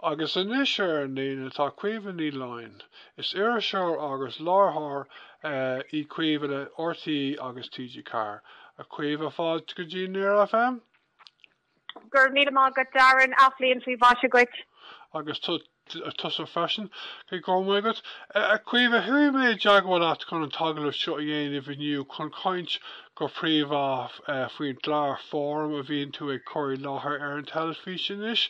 Agus anois ar an líne tá Caoimhe Ní Laighin. Is iriseoir agus láithreoir í Caoimhe le RTÉ agus TG4. A Chaoimhe, fáilte go dtí Near FM. Go raibh míle maith agat Darren, athbhliain faoi mhaise dhuit. Agus tusa freisin, go raibh maith agat. A Chaoimhe, chuaigh mé i dteagmháil leat chun an t-agallamh seo a dhéanamh inniu chun caint go príomha faoin gclár Fóram a bhíonn tú ag cur i láthair ar an teilifís anois.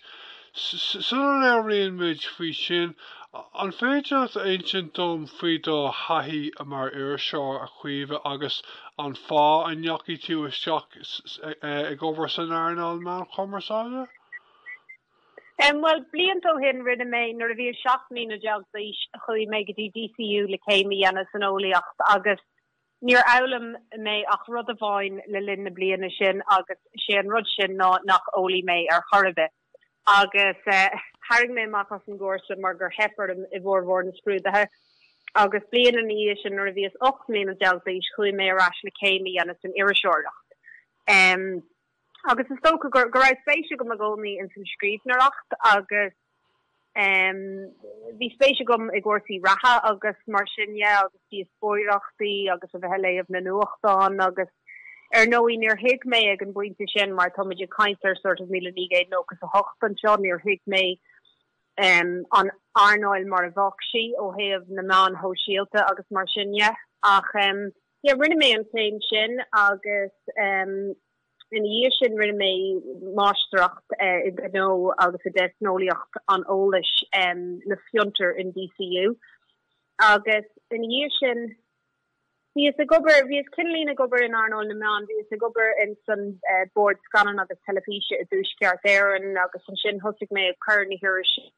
Sula labhraíonn muid faoi sin, an féidir leat a insint dom faoi do thaithí mar iriseoir, a Chaoimhe, agus an fáth a ndeachaigh tú isteach ag obair san earnáil meán chumarsáide? Bhuel, blianta ó shin rinne mé, nuair a bhíos seacht mbliana déag d'aois, chuaigh mé go dtí DCU le céim a dhéanamh san eolaíocht agus, Níor fhoghlaim mé ach rud amháin le linn na bliana sin agus sé an rud sin ná nach eolaí mé ar chor ar bith agus tharraing mé amach as an gcúrsa mar gur theip orm i bhformhór na scrúduithe agus bliain ina dhiaidh sin nuair a bhíos ocht mbliana déag d'aois chuaigh mé ar ais le céim a dhéanamh san iriseoireacht. agus is dócha go raibh spéis agam i gcónaí ins an scríbhneoireacht agus bhí spéis agam i gcúrsaí reatha agus mar sin dhe agus díospóireachtaí agus a bheith ag léamh na nuachtán agus ar ndóigh níor thuig mé ag an bpointe sin mar tá muid ag caint ar sort of míle naoi gcéad nócha is a hocht anseo níor thuig mé an earnáil mar a bheadh sí ó thaobh na meáin shóisialta agus mar sin dhe ach yeah rinne mé an chéim sin agus em ina dhiaidh sin rinne mé máistreacht eh i gnó agus i dteicneolaíocht an eolais em le fiontar in DCU agus ina dhiaidh sin bhíos ag obair bhíos cineáilín ag obair in earnáil na meán bhíos ag obair in san eh, bord scannán agus teilifíse i dtuaisceart Éireann agus ansin thosaigh mé ag cur na hirise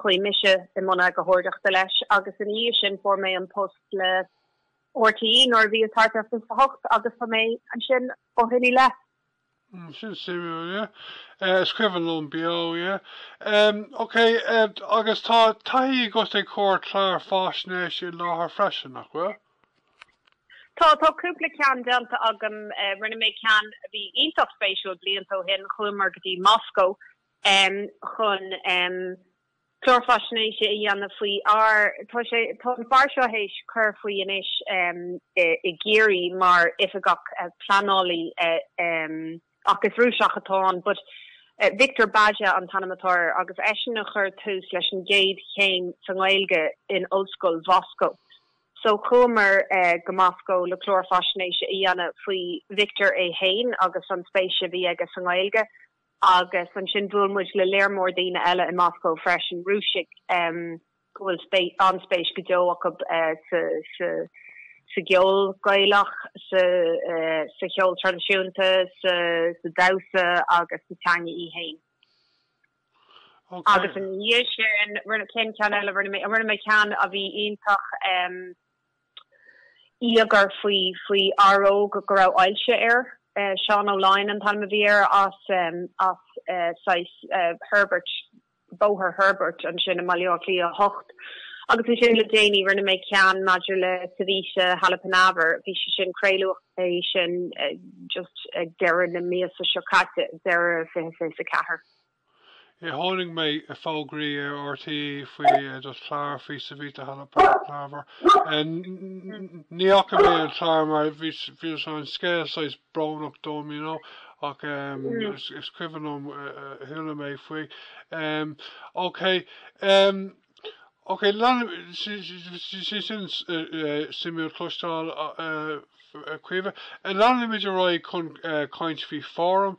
Chuaigh mise i mbun eagarthóireachta leis agus ina dhiaidh sin fuair mé an post le RTÉ nuair a bhíos thart ar 28 agus tá mé ansin ó shin i leith. Sin suimiúil, yeah. Is cuimhin liom Beo, yeah. Ok, agus tá taithí agat ag cur clár faisnéise i láthair freisin, nach bhfuil? Tá, tá cúpla ceann déanta agam. Rinne mé ceann a bhí iontach spéisiúil blianta ó shin, chuamar go dtí Moscó em chun em clár faisnéise a dhéanamh faoi fhear tá sé tá an fear seo théis cur faoi anois em i i gCiarraí mar oifigeach eh pleanálaí eh em ach is Rúiseach atá ann but eh Victor Bayda an t-ainm atá air agus eisean a chuir tús leis an gcéad chéim sa nGaeilge in Ollscoil Mhoscó so chuamar eh go Moscó le clár faisnéise a dhéanamh faoi Victor é fhéin agus an spéis a bhí aige sa nGaeilge Agus ansin bhuail muid le lear mór daoine eile i Moscó freisin, Rúisigh go bhfuil an-spéis go deo acu sa cheol Gaelach, sa cheol traidisiúnta, sa damhsa agus sa teanga í fhéin. Agus ina dhiaidh sin, rinne, cén ceann eile a rinne mé? Rinne mé ceann a bhí iontach. íogair faoi fhear óg go raibh ailse air. Seán Ó Laighin an t-ainm a bhí air as Herbert, Bóthar Herbert ansin i mBaile Átha Cliath 8. Agus ansin le déanaí rinne mé ceann maidir le Savita Halappanavar, bhí sé sin craoladh é sin just ag deireadh na míosa seo caite, deireadh 2024. Chonaic mé fógraí ar RTÉ faoi do chlár faoi Savita Halappanavar. Ní fhaca mé an clár mar bhí an scéal saghas brónach dom you know ach is cuimhin liom chuala mé faoi. Em, okay. Em. Ok, leanfaidh, sin suimiúil cloisteáil a Chaoimhe. Leanfaimid ar aghaidh chun caint faoi fóraim.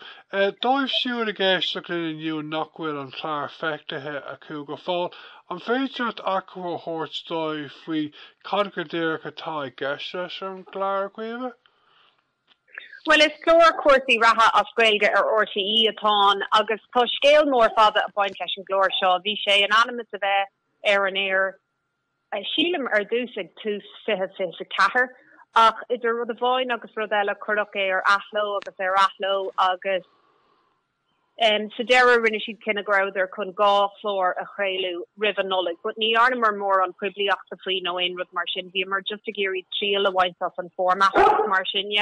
Dóibh siúd ag éisteacht linn inniu nach bhfuil an clár feicthe acu go fóill, an féidir leat achoimre a thabhairt dóibh faoi cad go díreach atá i gceist leis an gclár, a Chaoimhe? Bhuel is clár cúrsaí reatha as Gaeilge ar RTÉ atá ann agus tá scéal mór fada ag baint leis an gclár seo. Bhí sé in ainm is a bheith ar an aer sílim ar dtús ag tús fiche fiche a ceathair ach idir rud amháin agus rud eile cuireadh é ar athló agus ar athló agus. Sa deireadh rinne siad cinneadh go rabhadar chun dhá chlár a chraoladh roimh an Nollaig but ní dhearnamar mórán poiblíochta faoi nó aon rud mar sin, bhíomar just ag iarraidh triail a bhaint as an format mar sin.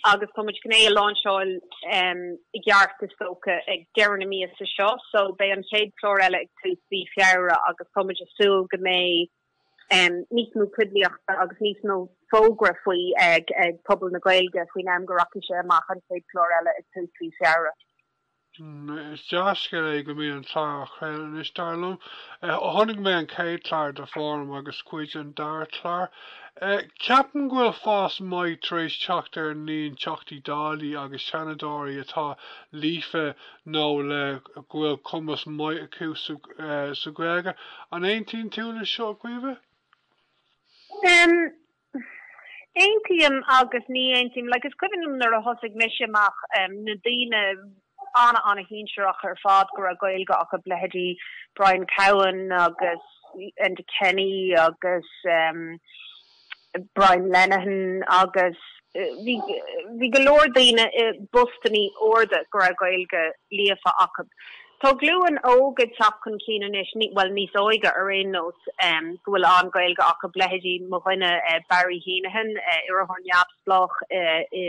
Agus tá muid chun é a láinseáil i gceart is dócha ag deireadh na míosa seo so beidh an chéad chlár eile ag tús mhí Feabhra agus tá muid ag súil go mbeidh níos mó poiblíochta agus níos mó fógra faoi ag pobal na Gaeilge faoin am go rachaidh sé amach an chéad clár eile ag tús mhí Feabhra. Is dea-scéal é go mbeidh an clár á chraoladh anois, dar liom. Chonaic mé an chéad chlár de Fóram agus cuid den dara clár. Ceapaim go bhfuil fás maith tar éis teacht ar an líon Teachtaí Dála agus Seanadóirí atá líofa nó le go bhfuil cumas maith acu sa Ghaeilge. An aontaíonn tú le seo, a Chaoimhe? Aontaím agus ní aontaím. Like is cuimhin liom nuair a thosaigh mise amach na daoine ana ana shinsearach ar fad go raibh Gaeilge acu, leithéidí Brian Cowen agus Enda Kenny agus, Brian Lenihan agus bhí go leor daoine i bpostannaí arda go raibh Gaeilge líofa acu. Tá glúin óg ag teacht chun cinn anois, bhuel níos óige ar aon nós, go bhfuil an-Gaeilge acu, leithéidí mo dhuine Barry Heneghan, iarrthóir neamhspleách i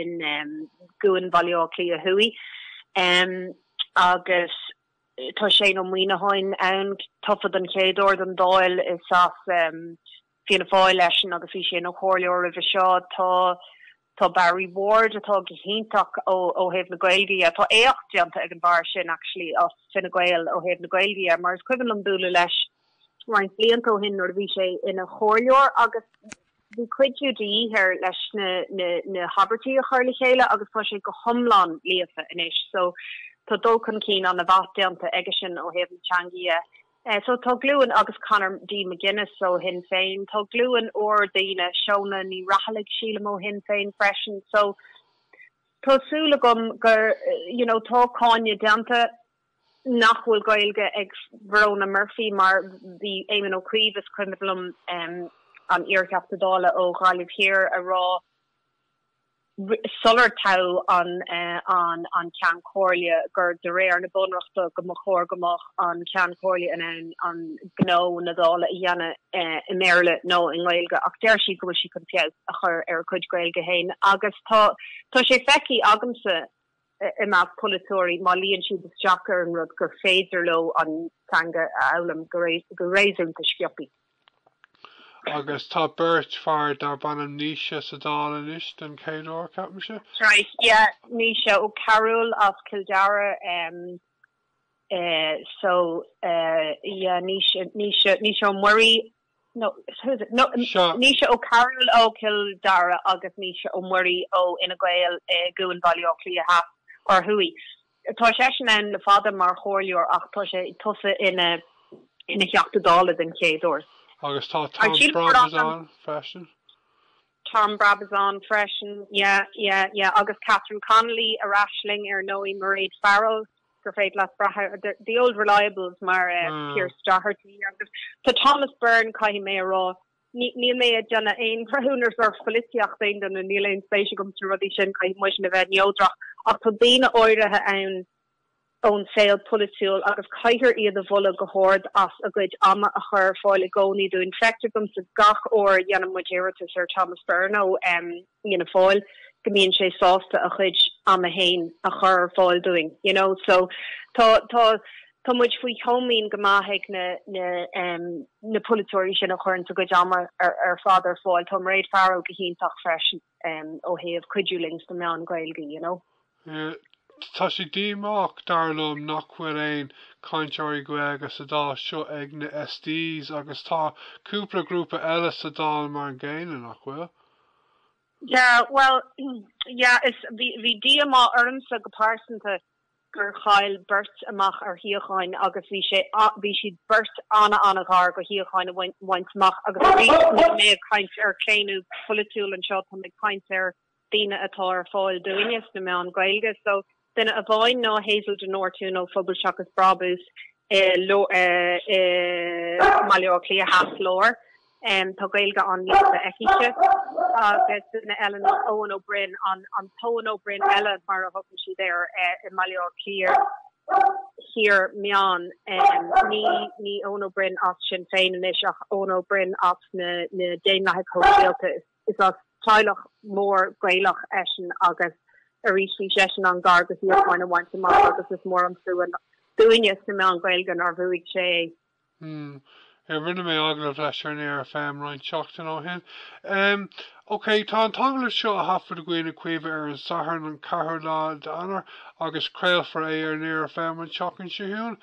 gCuan Bhaile Átha Cliath Thuaidh agus tá Shane Ó Muíneacháin ann, tofa don chéad uair don Dáil, is as Fianna Fáil eisean agus bhí sé ina chomhairleoir roimhe seo. Tá tá Barry Ward atá go hiontach ó ó thaobh na Gaeilge dhe. Tá éacht déanta ag an bhfear sin actually as Fine Gael ó thaobh na Gaeilge dhe mar is cuimhin liom bualadh leis roinnt blianta ó shin nuair a bhí sé ina chomhairleoir agus bhí cuidiú de dhíth air leis na na na habairtí a chur le chéile agus tá sé go hiomlán líofa anois so tá dul chun cinn an-mhaith déanta aigesean ó thaobh na teanga dhe. Eh so tá glúin agus Conor D McGuinness ó Shinn Féin, tá glúin úr daoine, Shónagh Ní Raghallaigh sílim ó Shinn Féin freisin so tá súil agam gur you know tá cáineadh déanta nach bhfuil Gaeilge ag Verona Murphy mar bhí Éamon Ó Cuív is cuimhin liom em an iar-Theachta Dála ó Ghaillimh Thiar ag rá sular toghadh an an Ceann Comhairle, gur de réir na Bunreachta go mba chóir go mbeadh an Ceann Comhairle in ann an gnó, na Dála, a dhéanamh i mBéarla nó i nGaeilge ach deir sí go bhfuil sí chun feabhas a chur ar a cuid Gaeilge féin agus tá sé feicthe agamsa. i measc polaiteoirí má luíonn siad isteach ar an rud gur féidir leo an teanga a fhoghlaim go réasúnta sciobthaí. Agus tá beirt fear darb ainm Naoise sa Dáil anois den chéad uair, ceapaimse. Right, yeah, Naoise Ó Cearúil as Cill Dara, em, eh, so, eh, yeah, Naoise, Naoise, Naoise Ó Muirí. no, who is it? no, Seo. Naoise Ó Cearúil ó Chill Dara agus Naoise Ó Muirí ó Fhine Gael i gCuan Bhaile Átha Cliath Theas or Thuaidh. Tá seisean ann le fada mar chomhairleoir ach tá sé tofa ina ina Theachta Dála den chéad uair. Agus tá Tom Brabazon freisin. Tom Brabazon freisin, yeah, yeah, yeah. Agus Catherine Connolly ar ais linn ar ndóigh, Mairéad Farrell, gur féidir leat brath ar, the old reliables mar Pearse Doherty agus tá Thomas Byrne caithfidh mé a rá, níl mé ag déanamh aon bhreithiúnas ar pholaitíocht aon duine, níl aon spéis agam sna rudaí sin, caithfidh muidne a bheith neodrach ach tá daoine áirithe ann, ón saol polaitiúil agus caithfear iad a mholadh go hard as a gcuid ama a chur ar fáil i gcónaí dúinn. Feictear domsa gach uair a dhéanann muid iarratas ar Thomas Byrne ó Fhianna Fáil go mbíonn sé sásta a chuid ama féin a chur ar fáil dúinn you know so tá tá tá muid faoi chomaoin go maith ag na na na polaiteoirí sin a chuireanns a gcuid ama ar ar fad ar fáil. Tá Mairéad Farrell go hiontach freisin ó thaobh cuidiú linn sna meáin Ghaeilge you know. Tá sé díomách, dar liom, nach bhfuil aon chainteoirí Gaeilge sa Dáil seo ag na SDs agus tá cúpla grúpa eile sa Dáil mar an gcéanna, nach bhfuil? Yeah, bhuel, yeah, is, bhí, bhí díomá ormsa go pearsanta gur chaill beirt amach ar shuíocháin agus bhí sé, bhí siad beirt an-an-ghar go suíocháin a bhaint amach agus arís, níl mé ag caint ar claonadh polaitiúil anseo, tá mé ag caint ar an daoine atá ar fáil dúinne sna meáin Ghaeilge so duine amháin ná Hazel de Nortúin ó Phobal Seachas Brabús i mBaile Átha Cliath Theas Lár tá Gaeilge an-líofa aici-se agus duine eile ná Eoin Ó Broin, an tEoin Ó Broin eile mar a thugann siad air i mBaile Átha Cliath Thiar Meán, ní Eoin Ó Broin as Sinn Féin anois ach Eoin Ó Broin as na Daonlathaigh Shóisialta is. Is as teaghlach mór Gaelach eisean agus arís bhí seisean an-ghar go shuíochán a bhaint amach agus is mór an trua dúinne sna meáin Ghaeilge nár bhuaigh sé é. mm yeah rinne mé agallamh leis ar Near FM roinnt seachtain ó shin em ok tá an t-agallamh seo á thaifeadadh againn a Chaoimhe ar an Satharn an 4ú lá d'Eanáir agus craolfar é ar Near FM an tseachtain seo chugainn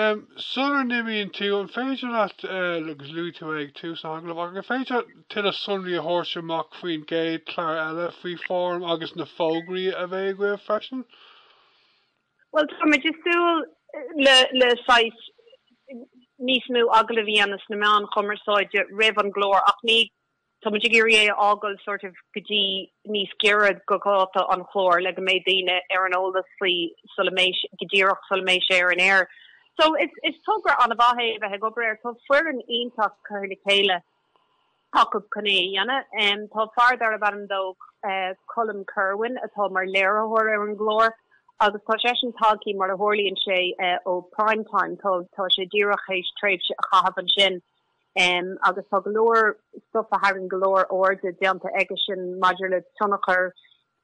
em sular n-imíonn tú an féidir leat eh agus luaigh tú é ag tús na hagallamh ach an féidir leat tuilleadh sonraí a thabhairt amach faoin gcéad chlár eile faoi Fóram agus na fógraí a bheidh agaibh freisin? Bhuel, tá muid ag súil le saghas níos mó agallamh a dhéanamh sna meáin chumarsáide roimh an gclár ach ní, tá muid ag iarraidh é a fhágáil sort of go dtí níos giorra go dháta an chláir le go mbeidh daoine ar an eolas faoi sula mbeidh, go díreach sula mbeidh sé ar an aer. So, is togra an-mhaith é a bheith ag obair air. Tá foireann iontach curtha le chéile. acu chun é a dhéanamh. Tá fear darb ainm dó Colm Kirwan atá mar léiritheoir ar an gclár agus tá seisean tagtha, mar a tharlaíonn sé, ó Prime Time. Tá sé díreach théis tréimhse a chaitheamh ansin agus tá go leor stuif a tharraing go leor airde déanta aige sin maidir le tionchar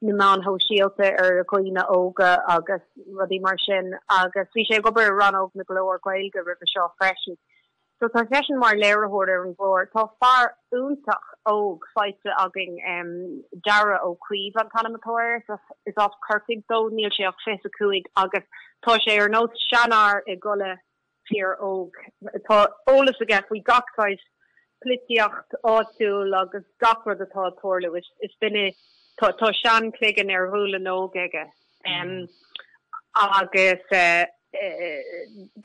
na meáin shóisialta ar dhaoine óga agus rudaí mar sin agus bhí sé ag obair i rannóg na gclár Gaeilge roimhe seo freisin. So tá seisean mar léiritheoir ar an gclár. Tá fear iontach óg faighte againn, Darragh Ó Caoimh an t-ainm atá air, is as Corcaigh dó, níl sé ach 25 agus tá sé ar nós seanfhear i gcolainn fir óig, tá eolas aige faoi gach saghas polaitíocht áitiúil agus gach rud atá ag tarlú. Is cinnte tá seanchloigeann ar ghualainn óg aige agus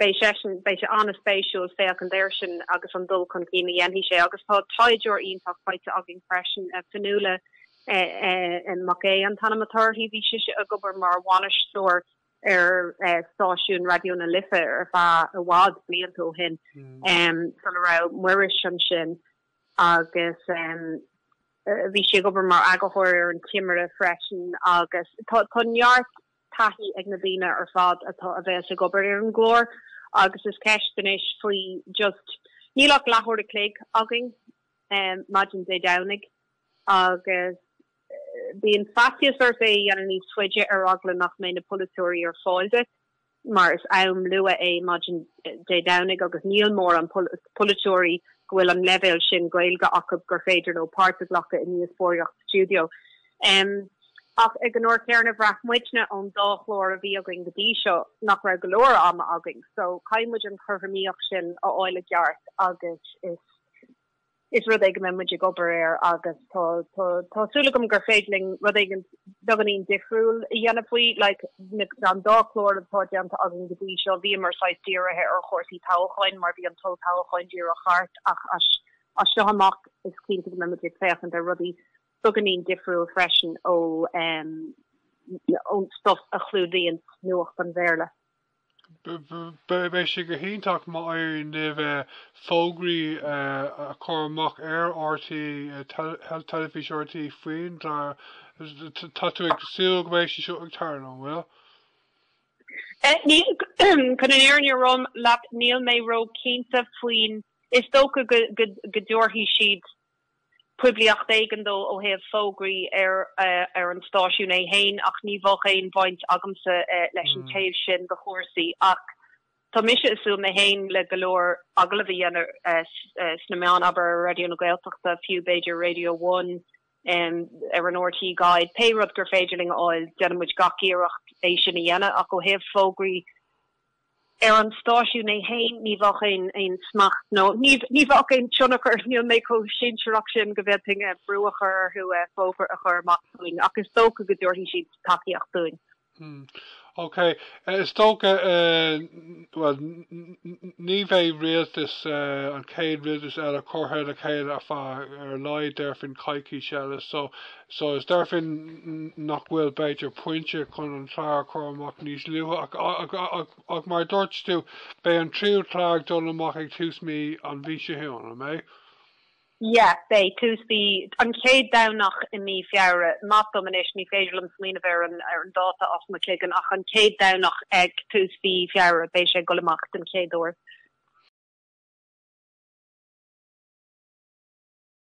beidh seisean beidh sé an-spéisiúil féachaint air sin agus an dul chun cinn a dhéanfaidh sé agus tá taighdeoir iontach faighte againn freisin, Fionnuala Mhic Aodha an t-ainm atá uirthi. Bhí sise ag obair mar bhainisteoir ar stáisiún Raidió na Life ar feadh i bhfad blianta ó shin sula raibh Muiris ansin agus bhí sí ag obair mar eagarthóir ar An Timire freisin agus tá neart taithí ag na daoine ar fad atá a bheas ag obair ar an gclár agus an cheist anois faoi just níl ach leathuair a chloig againn maidin Dé Domhnaigh agus Bíonn faitíos ort é a dhéanamh níos faide ar eagla nach mbeidh na polaiteoirí ar fáil duit mar is am luath é maidin Dé Domhnaigh agus níl mórán polaiteoirí go bhfuil an leibhéal sin Gaeilge acu gur féidir leo páirt a ghlacadh i ndíospóireacht stiúideo. Ach ag an uair chéanna bhraith muidne ón dá chlár a bhí againn go dtí seo nach raibh go leor ama againn so caithfidh muid an chothromaíocht sin a fháil i gceart agus is Is rud é go mbeidh muid ag obair air agus tá tá súil agam gur féidir linn rud éigin beagáinín difriúil a dhéanamh faoi. Like na an dá chlár atá déanta againn go dtí seo bhíomar saghas dírithe ar chúrsaí toghacháin mar bhí an t-olltoghchán díreach thart ach as as seo amach is cinnte go mbeidh muid ag féachaint ar rudaí beagáinín difriúil freisin ó ón stuff a chlúdaíonn nuacht an Bhéarla. Beidh sé go hiontach má éiríonn libh fógraí a chur amach ar RTÉ, Teilifís RTÉ faoin gclár. Tá tú ag súil go mbeidh sé seo ag tarlú, an bhfuil? Chun an fhírinne a rá leat níl mé ró-chinnte faoi. Is dócha go dtabharfaidh siad. poiblíocht éigin dó ó thaobh fógraí ar an stáisiún é féin ach ní bheadh aon bhaint agamsa leis an taobh sin de chúrsaí ach tá mise ag súil mé féin le go leor agallamh a dhéanamh sna meáin, abair ar Raidió na Gaeltachta fiú, b'fhéidir Radio One, ar an RTÉ Guide, pé rud gur féidir linn a fháil déanfaidh muid gach iarracht é sin a dhéanamh ach ó thaobh fógraí. ar an stáisiún ní hea, ní, ní bheadh aon smacht nó ní bheadh aon tionchar, níl mé chomh sinsearach sin go bhféadfainn brú a chur orthu fógra a chur amach dúinn ach is dócha go dtabharfaidh siad tacaíocht dúinn. Mm, ok. Is dócha, bhuel, ní bheidh rialtas, an chéad rialtas eile curtha le chéile ar feadh, ar a laghad déarfainn, coicís eile so so is déarfainn nach bhfuil b'fhéidir pointe chun an Clár a chur amach níos luaithe ach ach mar dúirt tú beidh an tríú clár ag dul amach ag tús mí an mhí seo chugainn, an mbeidh? Yeah, beidh, tús mhí, an chéad Domhnach i mí Feabhra, maith dom anois ní féidir liom smaoineamh ar an ar an dáta as mo chloigeann ach an chéad Domhnach ag tús mhí Feabhra beidh sé ag dul amach den chéad uair.